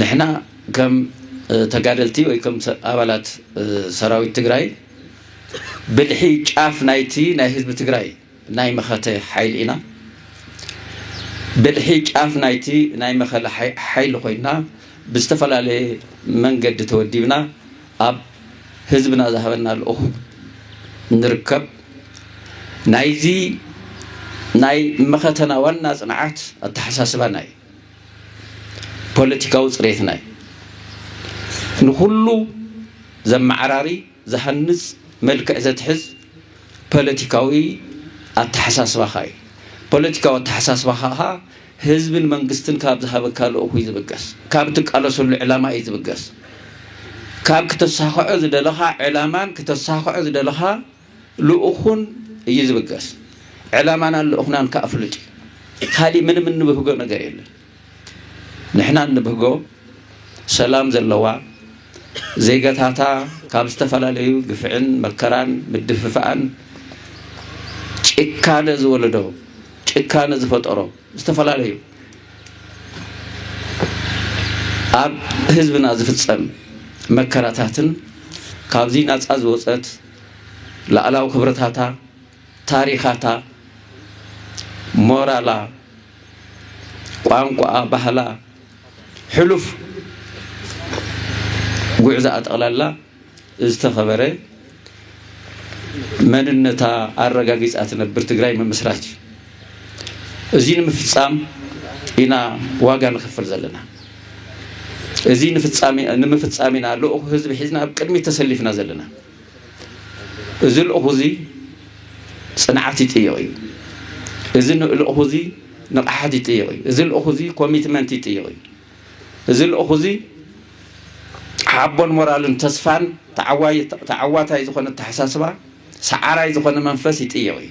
ንሕና ከም ተጋደልቲ ወይ ከም ኣባላት ሰራዊት ትግራይ ብልሒ ጫፍ ናይቲ ናይ ህዝቢ ትግራይ ናይ መኸተ ሓይሊ ኢና። ብልሒ ጫፍ ናይቲ ናይ መኸለ ሓይሊ ኮይና ብዝተፈላለየ መንገዲ ተወዲብና ኣብ ህዝብና ዝሃበና ልኡኽ ንርከብ። ናይዚ ናይ መኸተና ዋና ፅንዓት ኣተሓሳስባና እዩ። ፖለቲካዊ ፅሬትና እዩ። ንኹሉ ዘመዓራሪ፣ ዝሃንጽ መልክዕ ዘትሕዝ ፓለቲካዊ ኣተሓሳስባኻ እዩ። ፓለቲካዊ ኣተሓሳስባኻ ከኣ ህዝብን መንግስትን ካብ ዝሃበካ ልኡኽ እዩ ዝብገስ። ካብ እትቃለሰሉ ዕላማ እዩ ዝብገስ። ካብ ክተሳኽዖ ዝደለኻ ዕላማን ክተሳኽዖ ዝደለኻ ልኡኹን እዩ ዝብገስ። ዕላማናን ልኡኽናን ከኣ ፍሉጥ እዩ። ካሊእ ምንም እንብህጎ ነገር የለን። ንሕና እንብህጎ ሰላም ዘለዋ ዜጋታታ ካብ ዝተፈላለዩ ግፍዕን መከራን ምድፍፋኣን ጭካነ ዝወለዶ ጭካነ ዝፈጠሮ ዝተፈላለዩ ኣብ ህዝብና ዝፍፀም መከራታትን ካብዚ ናፃ ዝወፀት ላዕላዊ ክብረታታ ታሪኻታ፣ ሞራላ፣ ቋንቋኣ፣ ባህላ፣ ሕሉፍ ጉዕዛኣ ጠቕላላ ዝተኸበረ መንነታ ኣረጋጊፃ ትነብር ትግራይ ምምስራት እዩ። እዚ ንምፍፃም ኢና ዋጋ ንኸፍል ዘለና። እዚ ንምፍፃም ኢና ልኡኽ ህዝቢ ሒዝና ኣብ ቅድሚት ተሰሊፍና ዘለና። እዚ ልእኹዚ ፅንዓት ይጥይቕ እዩ። እዚ ልእኹዚ ንቕሓት ይጥይቕ እዩ። እዚ ልእኹዚ ኮሚትመንት ይጥይቕ እዩ። እዚ ልእኹዚ ሓቦን ሞራልን ተስፋን ተዓዋታይ ዝኾነ ኣተሓሳስባ ሰዓራይ ዝኾነ መንፈስ ይጥይቕ እዩ።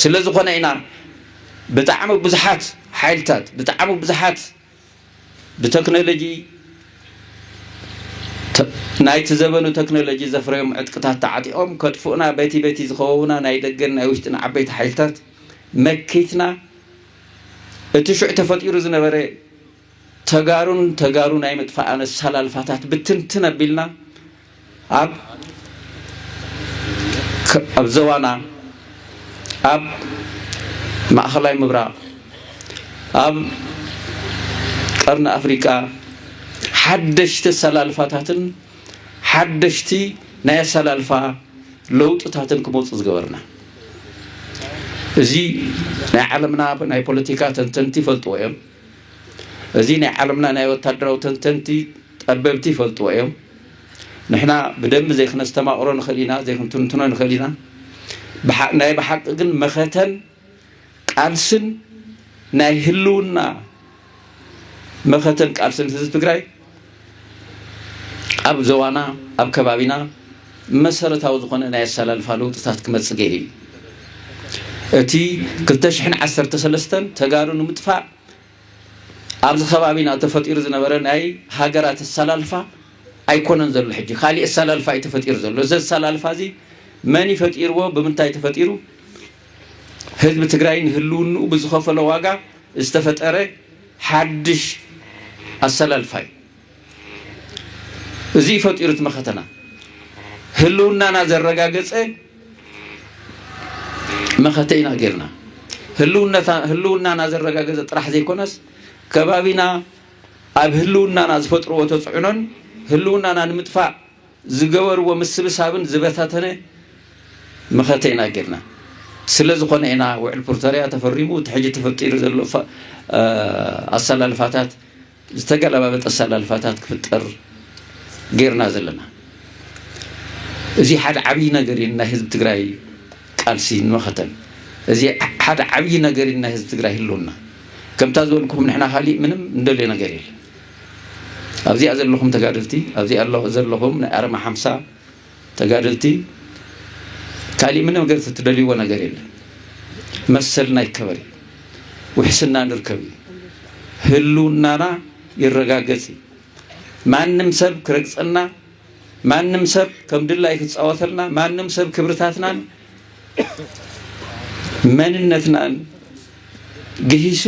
ስለ ዝኾነ ኢና ብጣዕሚ ብዙሓት ሓይልታት ብጣዕሚ ብዙሓት ብተክኖሎጂ ናይቲ ዘበኑ ተክኖሎጂ ዘፍረዮም ዕጥቅታት ተዓጢቖም ከጥፍኡና በቲ በቲ ዝኸበቡና ናይ ደገን ናይ ውሽጥን ዓበይቲ ሓይልታት መኪትና እቲ ሽዑ ተፈጢሩ ዝነበረ ተጋሩን ተጋሩ ናይ ምጥፋእ ኣነሳላልፋታት ብትንትን ኣቢልና ኣብ ኣብ ዘባና ኣብ ማእኸላይ ምብራቕ ኣብ ቀርኒ ኣፍሪቃ ሓደሽቲ ኣሰላልፋታትን ሓደሽቲ ናይ ኣሰላልፋ ለውጥታትን ክመፁ ዝገበርና እዚ ናይ ዓለምና ናይ ፖለቲካ ተንተንቲ ይፈልጥዎ እዮም። እዚ ናይ ዓለምና ናይ ወታደራዊ ተንተንቲ ጠበብቲ ይፈልጥዎ እዮም። ንሕና ብደንቢ ዘይክነስተማቕሮ ንኽእል ኢና፣ ዘይክንትንትኖ ንኽእል ኢና። ብሓ- ናይ ብሓቂ ግን መኸተን ቃልስን ናይ ህልውና መኸተን ቃልስን ህዝቢ ትግራይ ኣብ ዞባና፣ ኣብ ከባቢና መሰረታዊ ዝኾነ ናይ ኣሰላልፋ ለውጥታት ክመጽእ ገይሩ እዩ። እቲ ክልተ ሽሕን ዓሰርተ ሰለስተን ተጋሩ ንምጥፋእ ኣብዚ ከባቢና ተፈጢሩ ዝነበረ ናይ ሃገራት ኣሰላልፋ ኣይኮነን ዘሎ ሕጂ ካሊእ ኣሰላልፋ እዩ ተፈጢሩ ዘሎ እዚ ኣሰላልፋ እዚ መን ይፈጢርዎ ብምንታይ ተፈጢሩ ህዝቢ ትግራይ ንህልውንኡ ብዝኸፈሎ ዋጋ ዝተፈጠረ ሓድሽ ኣሰላልፋ እዩ እዙይ ፈጢሩ እቲ መኸተና ህልውናና ዘረጋገፀ መኸተ ኢና ጌርና ህልውናና ዘረጋገፀ ጥራሕ ዘይኮነስ ከባቢና ኣብ ህልውናና ዝፈጥርዎ ተፅዕኖን ህልውናና ንምጥፋእ ዝገበርዎ ምስብሳብን ዝበታተነ መኸተ ኢና ጌርና። ስለ ዝኾነ ኢና ውዕል ፕርቶርያ ተፈሪሙ እቲ ሕጂ ተፈጢሩ ዘሎ ኣሰላልፋታት ዝተገላባበጠ ኣሰላልፋታት ክፍጠር ጌርና ዘለና። እዚ ሓደ ዓብዪ ነገር እዩ ናይ ህዝቢ ትግራይ ቃልሲ ንመኸተን እዚ ሓደ ዓብዪ ነገር እዩ ናይ ህዝቢ ትግራይ ህልውና። ከምታ ዝበልኩኹም ንሕና ካሊእ ምንም እንደልዮ ነገር የለን። ኣብዚኣ ዘለኹም ተጋደልቲ ኣብዚኣ ዘለኹም ናይ ኣርማ ሓምሳ ተጋደልቲ ካሊእ ምንም ነገር ትደልይዎ ነገር የለን። መሰልና ይከበር እዩ። ውሕስና ንርከብ እዩ። ህልውናና ይረጋገጽ እዩ። ማንም ሰብ ክረግጸና ማንም ሰብ ከም ድላዩ ክጻወተልና፣ ማንም ሰብ ክብርታትናን መንነትናን ግሂሱ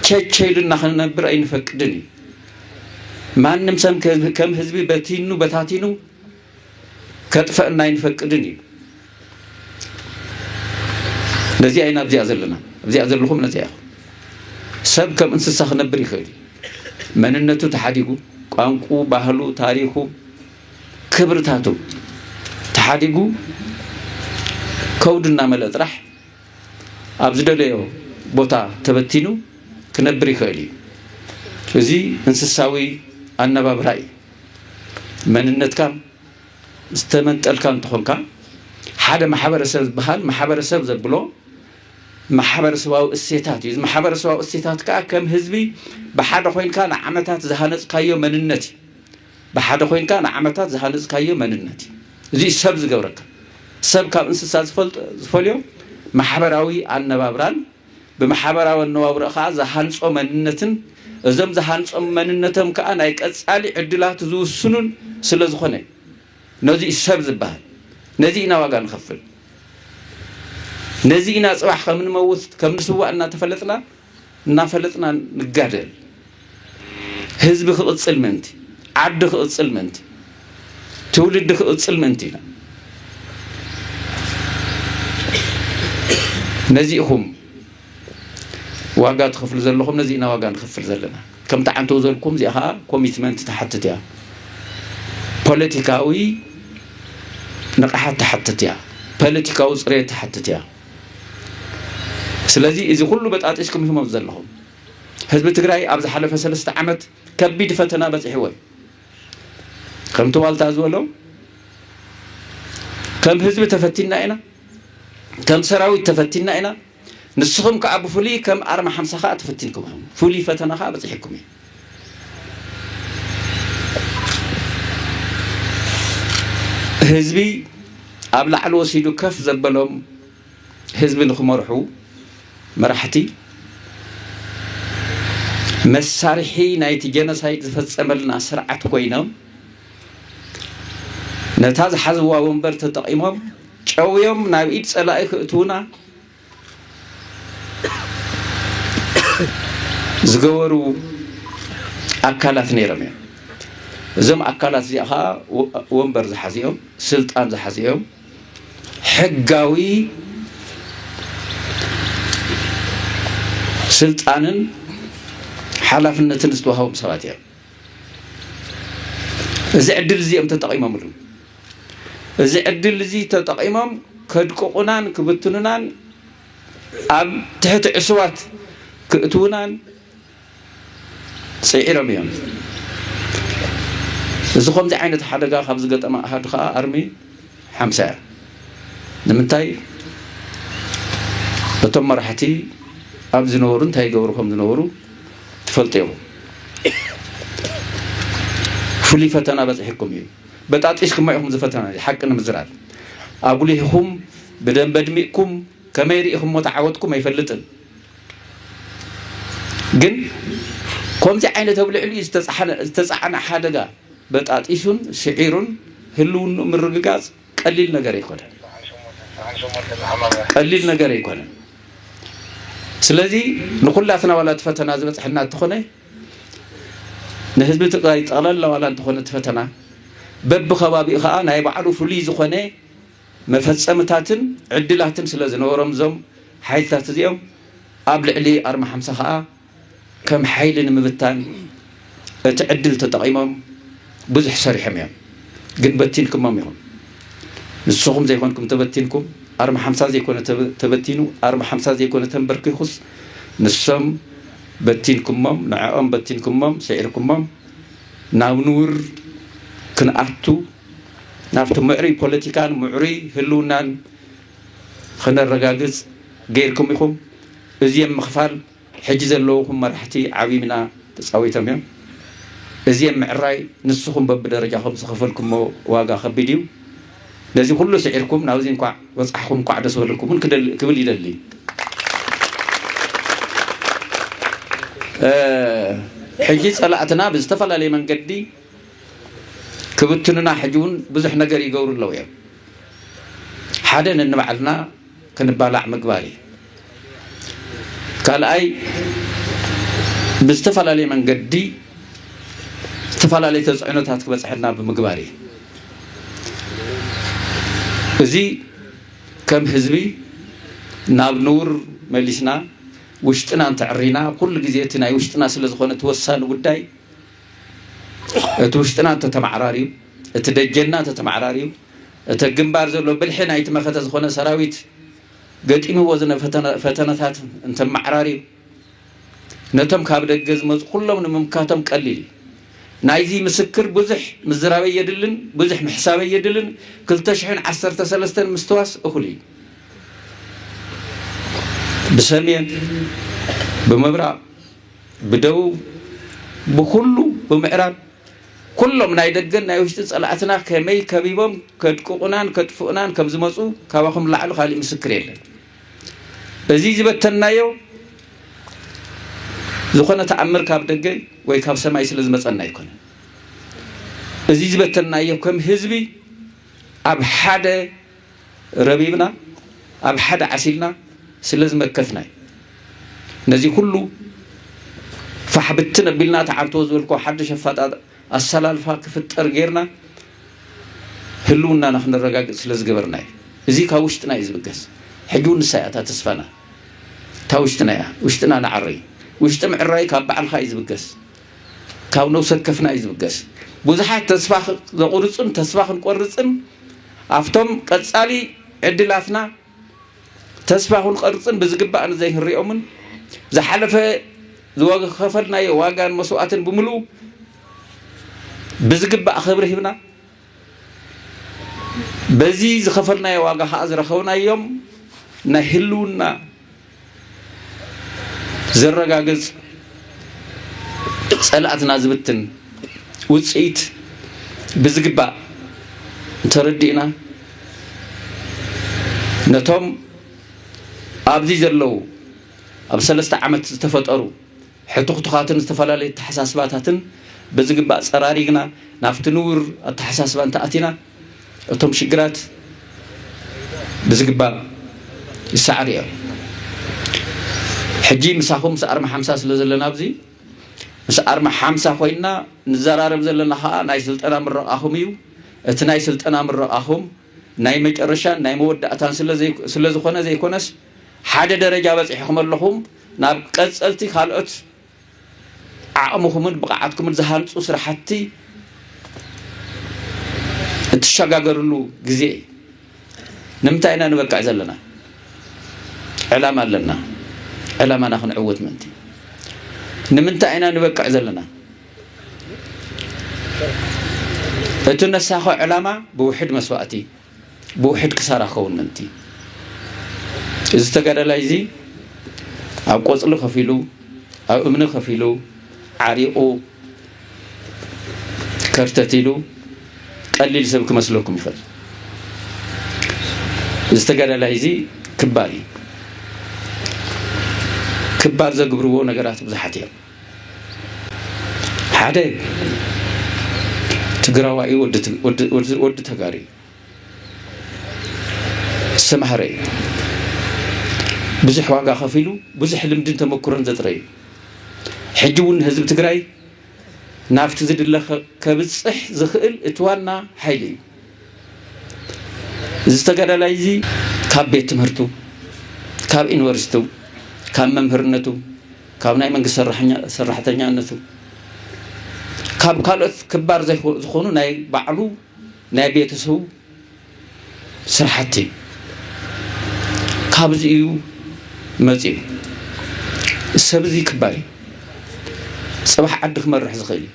ቸቸ ኢሉና ክንነብር ኣይንፈቅድን እዩ። ማንም ሰብ ከም ህዝቢ በቲኑ በታቲኑ ከጥፈእና ኣይንፈቅድን እዩ። ነዚኣ ኢና ኣብዚኣ ዘለና ኣብዚኣ ዘለኹም ነዚኣ ኢኹም ሰብ ከም እንስሳ ክነብር ይኽእል እዩ መንነቱ ተሓዲጉ ቋንቁ ባህሉ ታሪኹ ክብርታቱ ተሓዲጉ ከውዲ እናመልአ ጥራሕ ኣብ ዝደለዮ ቦታ ተበቲኑ ክነብር ይኽእል እዩ እዚ እንስሳዊ ኣነባብራ እዩ መንነትካ ዝተመንጠልካ እንተኾንካ ሓደ ማሕበረሰብ ዝበሃል ማሕበረሰብ ዘብሎ ማሕበረሰባዊ እሴታት እዩ። እዚ ማሕበረሰባዊ እሴታት ከዓ ከም ህዝቢ ብሓደ ኮይንካ ንዓመታት ዝሃነፅካዮ መንነት እዩ። ብሓደ ኮይንካ ንዓመታት ዝሃነፅካዮ መንነት እዩ። እዚ ሰብ ዝገብረካ ሰብ ካብ እንስሳ ዝፈልዮ ማሕበራዊ ኣነባብራን ብማሕበራዊ ኣነባብርኡ ከኣ ዝሃንጾ መንነትን እዞም ዝሃንጾም መንነቶም ከኣ ናይ ቀጻሊ ዕድላቱ ዝውስኑን ስለ ዝኾነ እዩ። ነዚ እዩ ሰብ ዝበሃል። ነዚ ኢና ዋጋ ንኸፍል። ነዚ ኢና ጽባሕ ከም ንመውት ከም ንስዋእ እናተፈለጥና እናፈለጥና ንጋደል። ህዝቢ ክቕጽል ምእንቲ፣ ዓዲ ክቕጽል ምእንቲ፣ ትውልዲ ክቕጽል ምእንቲ ኢና። ነዚ ኢኹም ዋጋ ትኸፍሉ ዘለኹም፣ ነዚ ኢና ዋጋ ንኸፍል ዘለና። ከምቲ ዓንተው ዘልኩም እዚኣ ከዓ ኮሚትመንት ትሓትት እያ፣ ፖለቲካዊ ንቕሓት ትሓትት እያ፣ ፖለቲካዊ ፅሬት ትሓትት እያ። ስለዚ እዚ ኩሉ በጣጢስኩም ኢኹም ኣብዚ ዘለኹም። ህዝቢ ትግራይ ኣብ ዝሓለፈ ሰለስተ ዓመት ከቢድ ፈተና በፂሕዎ እዩ። ከምቲ ዋልታ ዝበሎ ከም ህዝቢ ተፈቲና ኢና፣ ከም ሰራዊት ተፈቲና ኢና። ንስኹም ከዓ ብፍሉይ ከም ኣርማ ሓምሳ ከዓ ተፈቲንኩም ኢኹም። ፍሉይ ፈተና ከዓ በፂሕኩም እዩ። ህዝቢ ኣብ ላዕሊ ወሲዱ ከፍ ዘበሎም ህዝቢ ንክመርሑ መራሕቲ መሳርሒ ናይቲ ጀኖሳይድ ዝፈፀመልና ስርዓት ኮይኖም ነታ ዝሓዝዋ ወንበር ተጠቒሞም ጨውዮም ናብ ኢድ ፀላኢ ክእትውና ዝገበሩ ኣካላት ነይሮም እዮም እዞም ኣካላት እዚኣ ከዓ ወንበር ዝሓዙ እዮም ስልጣን ዝሓዙ እዮም ሕጋዊ ስልጣንን ሓላፍነትን ዝተዋህቦም ሰባት እዮም እዚ ዕድል እዚ እዮም ተጠቂሞምሉ እዚ ዕድል እዚ ተጠቂሞም ከድቅቑናን ክብትኑናን ኣብ ትሕቲ ዕሱባት ክእትውናን ጽዒሮም እዮም። እዚ ከምዚ ዓይነት ሓደጋ ካብ ዝገጠመ ኣሃዱ ከኣ ኣርሚ ሓምሳ እያ። ንምንታይ እቶም መራሕቲ ኣብ ዝነበሩ እንታይ ይገብሩ ከም ዝነበሩ ትፈልጡ ኢኹም። ፍሉይ ፈተና በፂሕኩም እዩ። በጣጢስኩማ ኢኹም ዝፈተና እዚ ሓቂ ንምዝራብ ኣጉሊህኹም ብደንበ ድሚቕኩም ከመይ ርኢኹሞ ተዓወትኩም ኣይፈልጥን። ግን ከምዚ ዓይነት ኣብ ልዕሊኡ ዝተፃዕነ ሓደጋ በጣጢሱን ስዒሩን ህልውንኡ ምርግጋፅ ቀሊል ነገር ኣይኮነን ቀሊል ነገር ኣይኮነን ስለዚ ንኩላትና ዋላ እቲ ፈተና ዝበፅሐና እንተኾነ ንህዝቢ ትግራይ ጠቕላላ ዋላ እንተኾነ እቲ ፈተና በብከባቢኡ ከዓ ናይ ባዕሉ ፍሉይ ዝኾነ መፈጸምታትን ዕድላትን ስለ ዝነበሮም እዞም ሓይልታት እዚኦም ኣብ ልዕሊ ኣርማ ሓምሳ ከኣ ከም ሓይሊ ንምብታን እቲ ዕድል ተጠቒሞም ብዙሕ ሰሪሖም እዮም። ግን በቲንኩሞም ኢኹም። ንስኹም ዘይኮንኩም ተበቲንኩም፣ ኣርማ ሓምሳ ዘይኮነ ተበቲኑ፣ ኣርማ ሓምሳ ዘይኮነ ተንበርኪኹስ ንሶም በቲንኩሞም፣ ንዐኦም በቲንኩሞም፣ ስዒርኩሞም ናብ ንውር ክንኣቱ፣ ናብቲ ምዕሩይ ፖለቲካን ምዕሩይ ህልውናን ኽነረጋግፅ ገይርኩም ኢኹም። እዚም ምኽፋል ሕጂ ዘለውኹም መራሕቲ ዓብይ ምና ተፃዊቶም እዮም። እዚም ምዕራይ ንስኹም በብደረጃኹም ዝኸፈልኩሞ ዋጋ ኸቢድ እዩ። ነዚ ኹሉ ስዒርኩም ናብዚ እንኳዕ በፃሕኹም እንኳዕ ደስ በለኩም እውን ክብል ይደሊ። ሕጂ ፀላእትና ብዝተፈላለየ መንገዲ ክብትኑና ሕጂ ውን ብዙሕ ነገር ይገብሩ ኣለው እዮም ሓደ ነንባዕልና ክንባላዕ ምግባር እዩ ካልኣይ ብዝተፈላለየ መንገዲ ዝተፈላለየ ተፅዕኖታት ክበፅሐና ብምግባር እዩ እዚ ከም ህዝቢ ናብ ንውር መሊስና ውሽጥና እንተዕሪና ኩሉ ግዜ እቲ ናይ ውሽጥና ስለ ዝኾነ እቲ ወሳኒ ጉዳይ እቲ ውሽጥና እንተተማዕራርዩ፣ እቲ ደጀንና እንተተማዕራርዩ፣ እቲ ኣብ ግንባር ዘሎ ብልሒ ናይቲ መኸተ ዝኾነ ሰራዊት ገጢምዎ ዝነ ፈተነታት እንተመዓራርዩ፣ ነቶም ካብ ደገ ዝመጹ ኩሎም ንምምካቶም ቀሊል እዩ። ናይዚ ምስክር ብዙሕ ምዝራበይ የድልን ብዙሕ ምሕሳበይ የድልን ክልተ ሽሕን ዓሰርተ ሰለስተን ምስትዋስ እኹል እዩ። ብሰሜን ብምብራቕ ብደቡብ ብኩሉ ብምዕራብ ኩሎም ናይ ደገን ናይ ውሽጢ ጸላእትና ከመይ ከቢቦም ከድቅቑናን ከጥፍኡናን ከም ዝመጹ ካባኹም ላዕሊ ካሊእ ምስክር የለን። እዚ ዝበተንናዮ ዝኾነ ተኣምር ካብ ደገ ወይ ካብ ሰማይ ስለ ዝመጸና ኣይኮነን። እዚ ዝበተንናዮ ከም ህዝቢ ኣብ ሓደ ረቢብና ኣብ ሓደ ዓሲልና ስለ ዝመከትና እዩ ነዚ ኩሉ ፋሕ ብትን ኣቢልና ተዓርቶ ዝበልኮ ሓድሽ ኣፋጣጥ ኣሰላልፋ ክፍጠር ጌርና ህልውናና ክነረጋግፅ ስለ ዝገበርና እዩ እዚ ካብ ውሽጥና እዩ ዝብገስ ሕጂ እውን ንሳ እያ እታ ተስፋና እታ ውሽጥና እያ ውሽጥና ንዓሪ ውሽጢ ምዕራይ ካብ ባዕልካ እዩ ዝብገስ ካብ ነውሰከፍና እዩ ዝብገስ ቡዙሓት ተስፋ ዘቁርጹን ተስፋ ክንቆርጽን ኣፍቶም ቀጻሊ ዕድላትና ተስፋ ክንቀርጽን ብዝግባእ ንዘይክንሪኦምን ዝሓለፈ ዝከፈልናዮ ዋጋን መስዋእትን ብምልኡ ብዝግባእ ክብሪ ሂብና በዚ ዝከፈልናዮ ዋጋ ከኣ ዝረከብናዮም ናይ ህልውና ዘረጋግጽ ጸላእትና ዝብትን ውጽኢት ብዝግባእ ተረዲእና ነቶም ኣብዚ ዘለዉ ኣብ ሰለስተ ዓመት ዝተፈጠሩ ሕቱኽቱኻትን ዝተፈላለዩ ኣተሓሳስባታትን ብዝግባእ ጸራሪግና ናብቲ ንቡር ኣተሓሳስባ እንተኣቲና እቶም ሽግራት ብዝግባእ ይሰዓሩ እዮም። ሕጂ ምሳኹም ምስ ኣርማ ሓምሳ ስለ ዘለና ኣብዚ ምስ ኣርማ ሓምሳ ኮይንና ንዘራረብ ዘለና ከኣ ናይ ስልጠና ምረቓኹም እዩ። እቲ ናይ ስልጠና ምረቓኹም ናይ መጨረሻን ናይ መወዳእታን ስለ ዝኾነ ዘይኮነስ ሓደ ደረጃ በጺሕኹም ኣለኹም ናብ ቀጸልቲ ካልኦት ዓቕምኹምን ብቕዓትኩምን ዝሃንፁ ስራሕቲ እትሸጋገርሉ ግዜ እዩ። ንምንታይ ኢና ንበቅዕ ዘለና? ዕላማ ኣለና። ዕላማና ክንዕውት ምእንቲ። ንምንታይ ኢና ንበቅዕ ዘለና? እቲ ነሳኾ ዕላማ ብውሕድ መስዋእቲ ብውሕድ ክሳራ ክኸውን ምእንቲ፣ እዚ ተጋዳላይ እዚ ኣብ ቆጽሊ ከፊሉ፣ ኣብ እምኒ ከፊሉ፣ ዓሪቑ፣ ከርተት ኢሉ ቀሊል ሰብ ክመስለኩም ይኽእል። እዚ ተጋዳላይ እዚ ክባር እዩ። ክባር ዘግብርዎ ነገራት ብዙሓት እዮም። ሓደ ትግራዋይ ወዲ ተጋሪ ዝተማህረ እዩ ብዙሕ ዋጋ ከፊሉ ብዙሕ ልምድን ተመክሮን ዘጥረ እዩ ሕጂ እውን ንህዝቢ ትግራይ ናብቲ ዝድለ ከብፅሕ ዝኽእል እቲ ዋና ሓይሊ እዩ እዚ ተጋዳላይ እዚ ካብ ቤት ትምህርቱ ካብ ዩኒቨርሲቱ ካብ መምህርነቱ ካብ ናይ መንግስቲ ሰራሕኛ ሰራሕተኛነቱ ካብ ካልኦት ክባር ዘይኮ ዝኾኑ ናይ ባዕሉ ናይ ቤተሰቡ ስራሕቲ ካብዚ እዩ መጺኡ። ሰብ እዚ ክባር እዩ። ጽባሕ ዓዲ ክመርሕ ዝኽእል እዩ።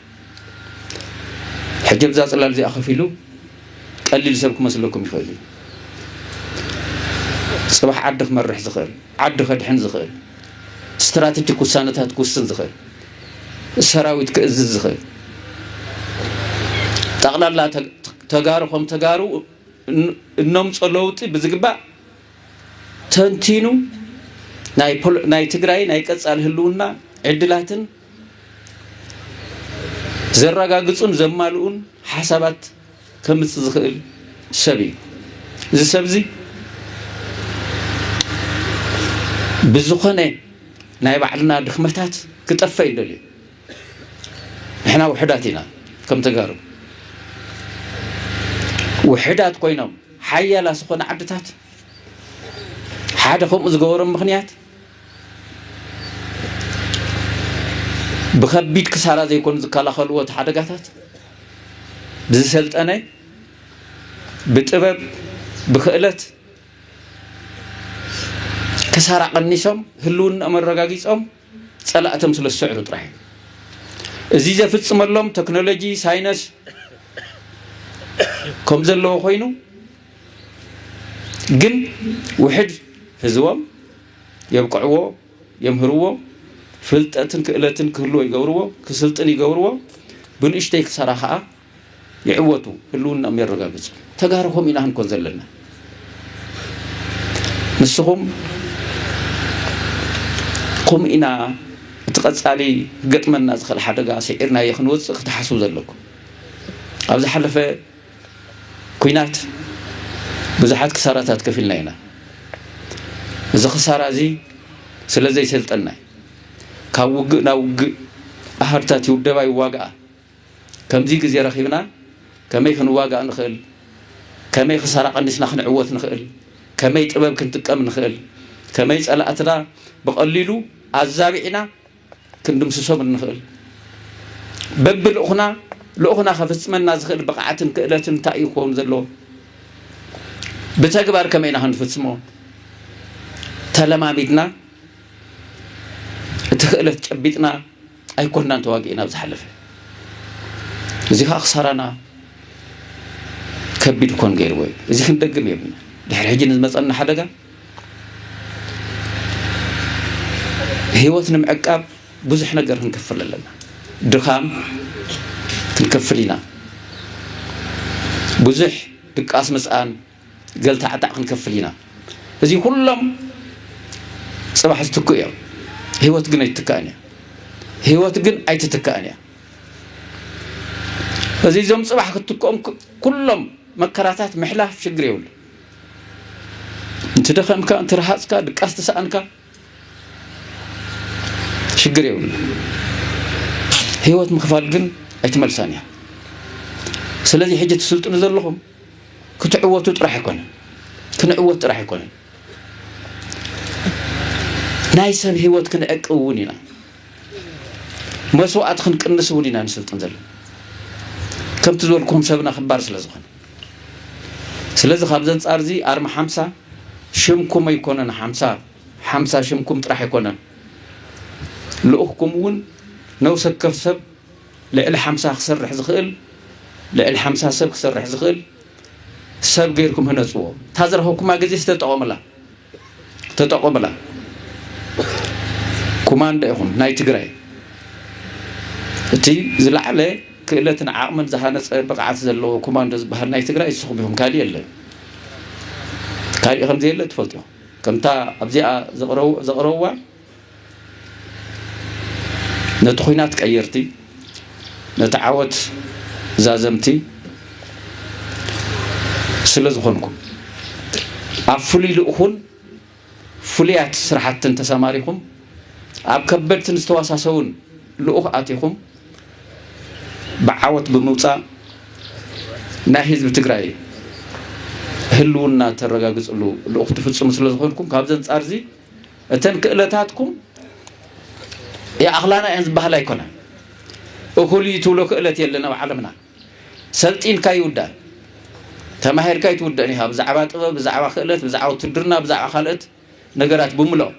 ሕጂ ኣብዛ ጽላል እዚኣ ከፍ ኢሉ ቀሊል ሰብ ክመስለኩም ይኽእል እዩ ጽባሕ ዓዲ ክመርሕ ዝኽእል ዓዲ ከድሕን ዝኽእል ስትራቴጂክ ውሳነታት ክውስን ዝኽእል ሰራዊት ክእዝዝ ዝኽእል ጠቕላላ ተጋሩ ከም ተጋሩ እነምፆ ለውጢ ብዝግባእ ተንቲኑ ናይ ትግራይ ናይ ቀፃሊ ህልውና ዕድላትን ዘረጋግጹን ዘማልኡን ሓሳባት ከምጽእ ዝኽእል ሰብ እዩ እዚ ሰብ እዚ ብዝኾነ ናይ ባዕልና ድኽመታት ክጠፈ ይደልዩ ንሕና ውሕዳት ኢና ከም ተጋሩ ውሕዳት ኮይኖም ሓያላ ዝኾነ ዓድታት ሓደ ከምኡ ዝገበሮም ምኽንያት ብከቢድ ክሳራ ዘይኮኑ ዝከላኸልዎ እቲ ሓደጋታት ብዝሰልጠነ ብጥበብ ብክእለት ክሳራ ቀኒሶም ህልውናኦም ኣረጋጊፆም ፀላእቶም ስለ ዝስዕሩ ጥራሕ እዩ እዚ ዘፍፅመሎም ቴክኖሎጂ ሳይነስ ከም ዘለዎ ኮይኑ ግን ውሕድ ህዝቦም የብቅዕዎ የምህርዎ ፍልጠትን ክእለትን ክህልዎ ይገብርዎ ክስልጥን ይገብርዎ ብንእሽተይ ክሰራ ከዓ ይዕወቱ ህልውናም የረጋግፁ ተጋሩ ከምኡ ኢና ክንኮን ዘለና ንስኹም ከምኡ ኢና እቲ ቀፃሊ ገጥመና ዝኽእል ሓደጋ ስዒርናዮ ክንወፅእ ክትሓስቡ ዘለኩም ኣብ ዝሓለፈ ኩናት ብዙሓት ክሳራታት ከፊልና ኢና። እዚ ክሳራ እዚ ስለ ዘይሰልጠና እዩ። ካብ ውግእ ናብ ውግእ ኣሃዱታት ይውደባ ይዋግኣ። ከምዚ ግዜ ረኺብና ከመይ ክንዋጋእ ንኽእል፣ ከመይ ክሳራ ቀኒስና ክንዕወት ንኽእል፣ ከመይ ጥበብ ክንጥቀም ንኽእል፣ ከመይ ጸላእትና ብቐሊሉ ኣዛቢዕና ክንድምስሶም እንኽእል በቢ ልኡኽና ልኡኽና ከፍፅመና ዝኽእል ብቕዓትን ክእለትን እንታይ እዩ ክኸውን ዘለዎ ብተግባር ከመይ ኢና ክንፍፅሞ ተለማሚድና እቲ ክእለት ጨቢጥና ኣይኮናን ተዋጊእና ኣብ ዝሓለፈ እዚ ከዓ ክሳራና ከቢድ ኮን ገይርዎ እዩ እዚ ክንደግም የብልና ድሕሪ ሕጂ ንዝመፀና ሓደጋ ህይወት ንምዕቃብ ብዙሕ ነገር ክንከፍል ኣለና ድኻም ክንከፍል ኢና ብዙሕ ድቃስ ምስኣን ገልታዕታዕ ክንከፍል ኢና እዚ ኩሎም ፅባሕ ዝትክኡ እዮም ህይወት ግን ኣይትትካእን እያ ህይወት ግን ኣይትትካእን እያ እዚ እዞም ፅባሕ ክትትክኦም ኩሎም መከራታት ምሕላፍ ሽግር የብሉ እንትደኸምካ እንትረሃፅካ ድቃስ ተሰኣንካ ሽግር የብሉ ህይወት ምኽፋል ግን ኣይትመልሳን እያ ስለዚ ሕጂ ትስልጥኑ ዘለኹም ክትዕወቱ ጥራሕ ኣይኮነን ክንዕወት ጥራሕ ኣይኮነን ናይ ሰብ ህይወት ክንዕቂ እውን ኢና መስዋእቲ ክንቅንስ እውን ኢና ንስልጥን ዘለና ከምቲ ዝበልኩም ሰብና ክባር ስለ ዝኾነ ስለዚ ካብዚ ኣንጻር እዚ ኣርማ ሓምሳ ሽምኩም ኣይኮነን ሓምሳ ሓምሳ ሽምኩም ጥራሕ ኣይኮነን ልኡኽኩም እውን ነውሰ ከፍ ሰብ ልዕሊ ሓምሳ ክሰርሕ ዝኽእል ልዕሊ ሓምሳ ሰብ ክሰርሕ ዝኽእል ሰብ ገይርኩም ህነፅዎ እታ ዝረኸብኩማ ግዜ ዝተጠቐሙላ ተጠቆምላ ኩማንዶ ኢኹም ናይ ትግራይ እቲ ዝለዓለ ክእለትን ዓቕምን ዝሃነፀ ብቕዓት ዘለዎ ኩማንዶ ዝበሃል ናይ ትግራይ ንስኹም ኢኹም ካሊእ የለን ካሊእ ከምዘየለ ትፈልጡ ኢኹም ከምታ ኣብዚኣ ዘቕረብዋ ነቲ ኹናት ቀየርቲ፣ ነቲ ዓወት ዛዘምቲ ስለ ዝኾንኩም፣ ኣብ ፍሉይ ልእኹን ፍሉያት ስራሕትን ተሰማሪኹም፣ ኣብ ከበድትን ዝተዋሳሰቡን ልኡኽ ኣቲኹም ብዓወት ብምውፃእ ናይ ህዝቢ ትግራይ ህልውና ተረጋግፅሉ ልኡኽ ትፍፅሙ ስለ ዝኾንኩም ካብዚ ኣንፃር እዚ እተን ክእለታትኩም ይኣኽላና እየን ዝበሃላ ኣይኮናን። እኹል እዩ ትብሎ ክእለት የለን ኣብ ዓለምና። ሰልጢንካ ይውዳእ ተማሂርካ ኣይትውደእን ኢኻ ብዛዕባ ጥበብ ብዛዕባ ክእለት ብዛዕባ ውትድርና ብዛዕባ ካልኦት ነገራት ብምልኦ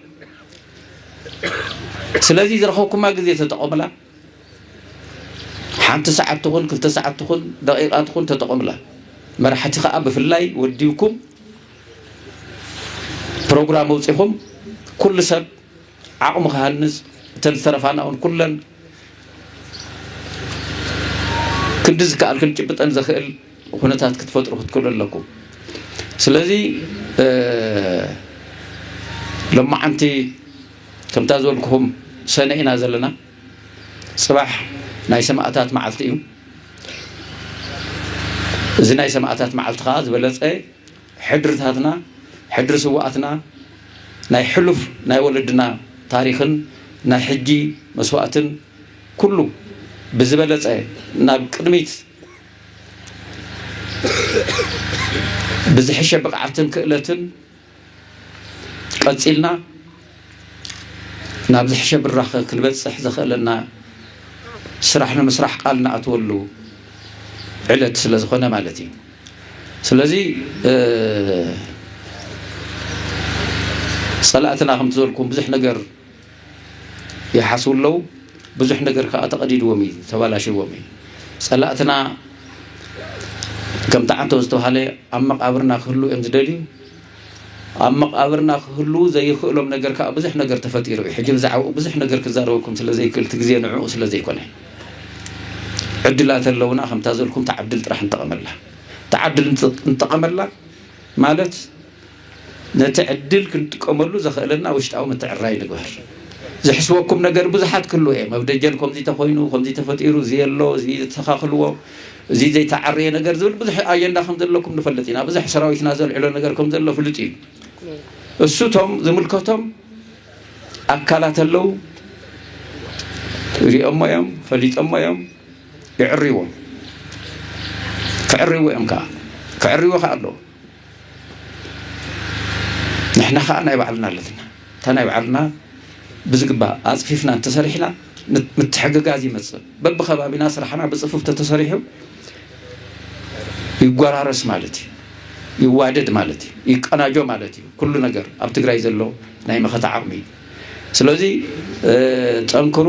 ስለዚ ዝረኸብኩማ ግዜ ተጠቐሙላ ሓንቲ ሰዓት ትኹን ክልተ ሰዓት ትኹን ደቂቓ ትኹን ተጠቐምላ። መራሕቲ ከዓ ብፍላይ ወዲብኩም ፕሮግራም ኣውፂኹም ኩሉ ሰብ ዓቕሙ ክሃንፅ እተን ዝተረፋና እውን ኩለን ክንዲ ዝከኣል ክንጭብጠን ዘኽእል ኩነታት ክትፈጥሩ ክትክእሉ ኣለኩም ስለዚ ሎማዓንቲ ከምታ ዝበልኩኹም ሰነ ኢና ዘለና ጽባሕ ናይ ሰማእታት መዓልቲ እዩ እዚ ናይ ሰማእታት መዓልቲ ከዓ ዝበለጸ ሕድርታትና ሕድሪ ስዋኣትና ናይ ሕሉፍ ናይ ወለድና ታሪኽን ናይ ሕጂ መስዋእትን ኩሉ ብዝበለጸ ናብ ቅድሚት ብዝሕሸ ብቕዓትን ክእለትን ቀጺልና ናብ ዝሕሸ ብራኸ ክንበጽሕ ዘኽእለና ስራሕ ንምስራሕ ቃል ንኣትወሉ ዕለት ስለ ዝኾነ ማለት እዩ ስለዚ ጸላእትና ከምቲ ዘልኩም ብዙሕ ነገር ይሓስቡ ኣለዉ። ብዙሕ ነገር ከዓ ተቐዲድዎም እዩ፣ ተባላሽዎም እዩ። ጸላእትና ከም ተዓንቶ ዝተባሃለ ኣብ መቃብርና ክህሉ እዮም ዝደልዩ። ኣብ መቃብርና ክህሉ ዘይክእሎም ነገር ከዓ ብዙሕ ነገር ተፈጢሩ እዩ። ሕጂ ብዛዕባኡ ብዙሕ ነገር ክዛረበኩም ስለ ዘይክእል እቲ ግዜ ንዕኡ ስለ ዘይኮነ ዕድላት ኣለውና ከምታ ዘልኩም ተዓድል ጥራሕ ንጠቐመላ ተዓድል ንጠቐመላ ማለት ነቲ ዕድል ክንጥቀመሉ ዘኸእለና ውሽጣዊ ምትዕርራይ ንግበር። ዝሕስበኩም ነገር ብዙሓት ክህልው እዬም። ኣብ ደጀን ከምዙይ ተኾይኑ፣ ከምዙይ ተፈጢሩ፣ እዙይ ኣሎ፣ እዙይ ዘተኻኽልዎ፣ እዙይ ዘይተዓረየ ነገር ዝብል ብዙሕ ኣጀንዳ ከምዘለኩም ንፈልጥ ኢና። ብዙሕ ሰራዊትና ዘልዕሎ ነገር ከምዘሎ ፍሉጥ እዩ። እሱ እቶም ዝምልከቶም ኣካላት ኣለው ሪኦሞ እዮም፣ ፈሊጦሞ እዮም፣ ይዕርይዎም። ክዕርይዎ እዮም ከዓ ክዕርይዎ ከዓ ኣለዎ። ንሕና ከዓ ናይ ባዕልና ኣለትና እታ ናይ ባዕልና ብዝግባእ ኣፅፊፍና እንተሰሪሕና ምትሕግጋዝ ይመፅእ በብከባቢና ስራሕና ብፅፉፍ ተተሰሪሑ ይጎራረስ ማለት እዩ ይዋደድ ማለት እዩ ይቀናጆ ማለት እዩ ኩሉ ነገር ኣብ ትግራይ ዘሎ ናይ መኸተ ዓቕሚ እዩ ስለዚ ጠንክሩ